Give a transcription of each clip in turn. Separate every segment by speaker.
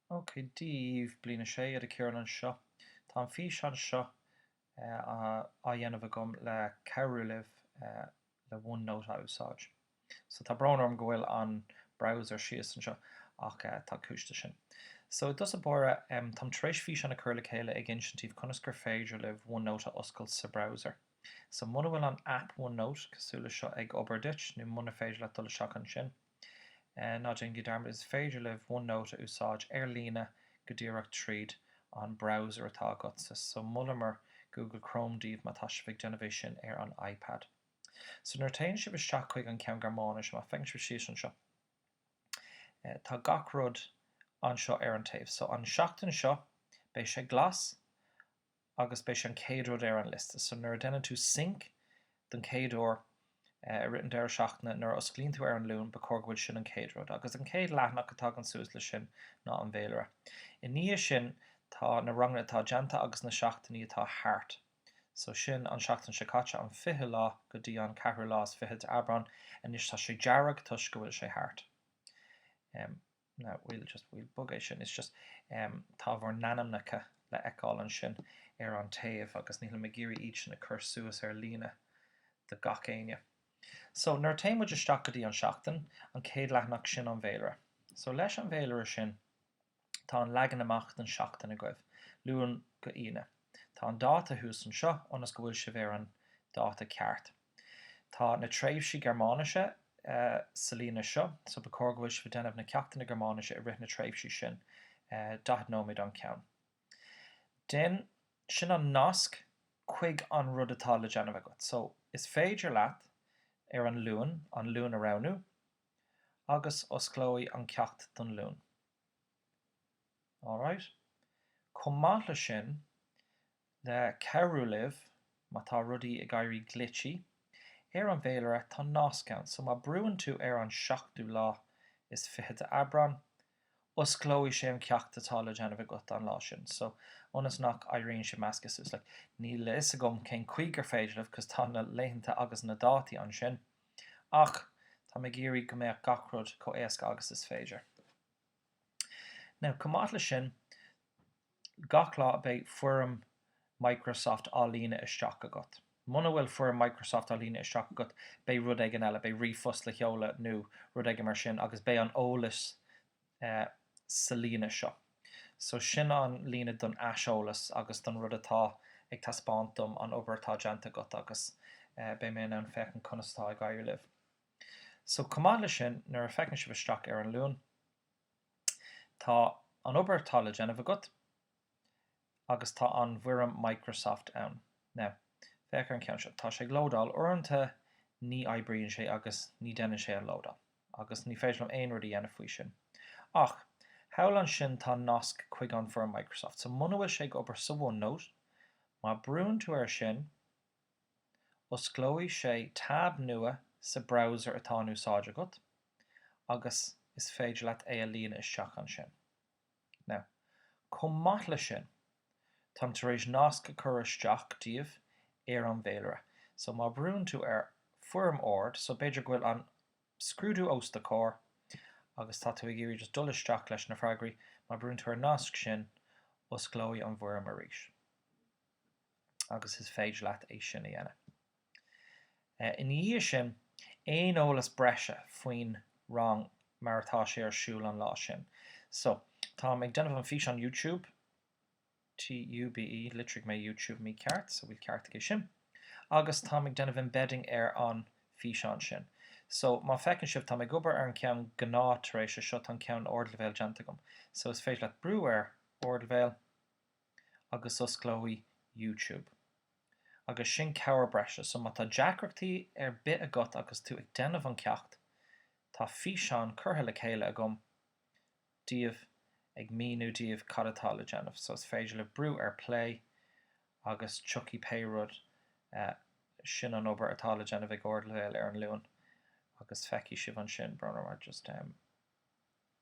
Speaker 1: OK, Dia daoibh, Bliain 6, Iníon Uí Chearúill anseo. Tá an físeán seo á dhéanamh agam le cabhrú libh le OneNote a úsáid. So, tá brón orm go bhfuil an browser síos anseo ach tá cúis do sin. So, i dtosach báire, táim tar éis físeán a chur le chéile ag insint daoibh conas gur féidir libh OneNote a oscailt sa browser. So, muna bhfuil an app OneNote cosúil le seo ag obair duit nó muna féidir leat dul isteach ansin, Ná déan Dearmad, Is féidir libh OneNote a úsáid ar líne go díreach tríd an browser atá agatsa, so molaimid Google Chrome daoibh má tá sibh ag déanamh é sin ar an iPad. So nuair a téann sibh isteach chuig an ceann Gearmáinis, má feiceann sibh síos anseo, tá gach rud anseo ar an taobh. So an seachtain seo, beidh sé glas agus beidh sé an chéad rud ar an liosta. So nuair a déanann tú sync don chéad uair i rith an deireadh seachtaine, nuair a osclaíonn tú ar an Luan, ba chóir go bhfuil sin an chéad rud. Agus an chéad leathanach a tagann suas le sin ná an bhféilire. I ndiaidh sin tá na ranganna atá déanta agus na seachtainí atá thart. So sin an seachtain seo caite, an fichiú lá go dtí an ceathrú lá is fiche de Aibreán. Anois tá sé dearg toisc go bhfuil sé thart. Em. Now we'll just, we'll bog é sin, it's just, em, tá bhur n-ainmneacha le fheiceáil ansin ar an taobh agus nílim ag iarraidh iad sin a chur suas ar líne do gach éinne. So nuair a téann muid isteach go dtí an Seachtain, an chéad leathanach, sin an bhféilire. So leis an bhféilire sin, tá an leagan amach den seachtain agaibh, Luan go Aoine. Tá an dáta thuas anseo ionas go bhfuil sibh ar an dáta ceart. Tá na tréimhsí Gearmáinise sa líne seo so ba chóir go bhfuil sibh ag déanamh na ceachtanna Gearmáinise i rith na tréimhsí sin, 40 nóiméad an ceann. Then, sin an nasc chuig an rud atá le déanamh agat. So, is féidir leat ar an Luan, an Luan a roghnú agus osclóidh an ceacht don Luan. Alright? Chomh maith le sin, Le cabhrú libh, má tá rudaí ag éirí glitchy ar an bhféilire, tá nasc ann, so má brúann tú ar an seachtú lá is fiche de Aibreán, osclóidh sé an ceacht atá le déanamh agat an lá sin, so ionas nach éiríonn sé measctha suas, like, níl a fhios agam cén chaoi gur féidir libh 'cause tá na laethanta agus na dátaí ansin, ach tá mé ag iarraidh go mbeadh gach rud chomh éasca agus is féidir. Now chomh maith le sin gach lá beidh foirm Microsoft á líonadh isteach agat. Muna bhfuil foirm Microsoft á líonadh isteach agat beidh rud éigin eile, beidh ríomhphost le sheoladh nó rud éigin mar sin agus beidh an eolas sa líne seo. So sin an líne don aiseolas agus don rud atá ag taispeáint dom an obair atá déanta agat agus beidh mé in ann féachaint conas atá ag éirí libh. So, chomh maith leis sin, nuair a fhéachann sibh isteach ar an Luan, tá an obair atá le déanamh agat agus tá an bhfoirm Microsoft ann. Now, féach ar an ceann seo. Tá sé ag lódáil. Uaireanta ní oibríonn sé agus ní déanann sé an lódáil agus ní féidir liom aon rud a dhéanamh faoi sin. Ach, thall ansin tá nasc chuig an bhfoirm Microsoft. So, muna bhfuil sé ag obair sa OneNote, má brúnn tú air sin, Osclóidh sé tab nua sa browser atá in úsáid agat agus is féidir leat é a líonadh isteach ansin. Now, chomh maith leis sin, táim tar éis nasc a chur isteach daoibh ar an bhféilire. So má bhrúnn tú ar Foirm Ard, so b'fhéidir go bhfuil an scrúdú os do chomhair agus tá tú ag iarraidh just dul isteach leis na freagraí, má bhrúnn tú ar an nasc sin, osclóidh an bhfoirm arís. agus is féidir leat é sin a dhéanamh ina dhiaidh sin. Aon eolas breise faoin rang mar atá sé ar siúl an lá sin. So, táim ag déanamh an físeán YouTube, T U B E, litrigh mé YouTube mícheart so bhfuil ceart aige sin? agus táim ag déanamh embedding ar an físeán sin. So, má feiceann sibh, táim ag obair ar an ceann gnáth tar éis é seo tá an ceann ardleibhéal déanta agam. So, is féidir leat brú ar ardleibhéal. agus osclóidh YouTube. Agus sin cabhair breise. So má tá deacrachtaí ar bith agat agus tú ag déanamh an ceacht, tá físeán curtha le chéile agam daoibh ag míniú daoibh cad atá le déanamh. So is féidir leat brú ar play agus tiocfaidh pé rud. Sin an obair atá le déanamh ag ardleibhéal ar an Luan agus feicfidh sibh ansin.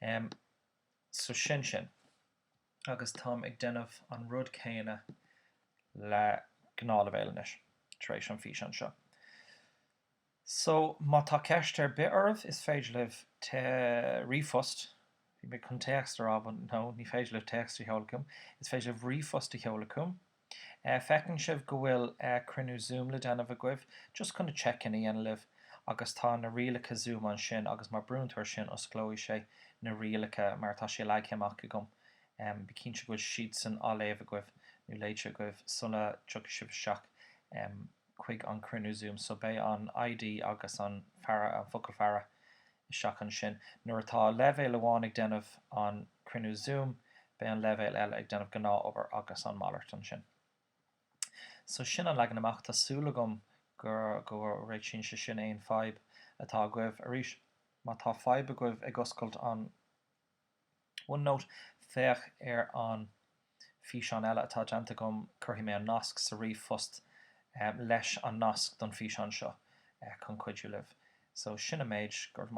Speaker 1: Em, so sin sin. Agus táim ag déanamh an rud céanna le gnáthleibhéal anois, tar éis an físeán seo. So, má tá ceist ar bith oraibh, is féidir libh te, ríomhphost, bhí mé chun téacs a rá but no, ní féidir libh téacs a sheoladh chugam, is féidir libh ríomhphost a sheoladh chugam, Feiceann sibh go bhfuil cruinniú Zoom le déanamh agaibh, just chun check-in a dhéanamh libh agus tá na rialacha Zoom ansin agus má brúann tú ar sin osclóidh sé na rialacha mar atá sé leagtha amach agam. Bí cinnte go bhfuil siadsan á léamh agaibh nó léite agaibh sula dtiocfaidh sibh isteach. chuig an cruinniú Zoom. So beidh an ID agus an faire, an focal faire isteach ansin. Nuair atá leibhéal amháin ag déanamh an cruinniú Zoom, beidh an leibhéal eile ag déanamh gnáth obair agus an malairt ansin. So sin an leagan amach. Tá súil agam go réitíonn sé sin aon fadhb atá agaibh. Arís, má tá fadhb agaibh ag oscailt an. OneNote, Féach ar an bhfíseán eile atá déanta agam, cuirfidh mé an nasc sa ríomhphost leis an nasc don bhfíseán seo chun cuidiú libh. So sin an méid, go raibh maith agat.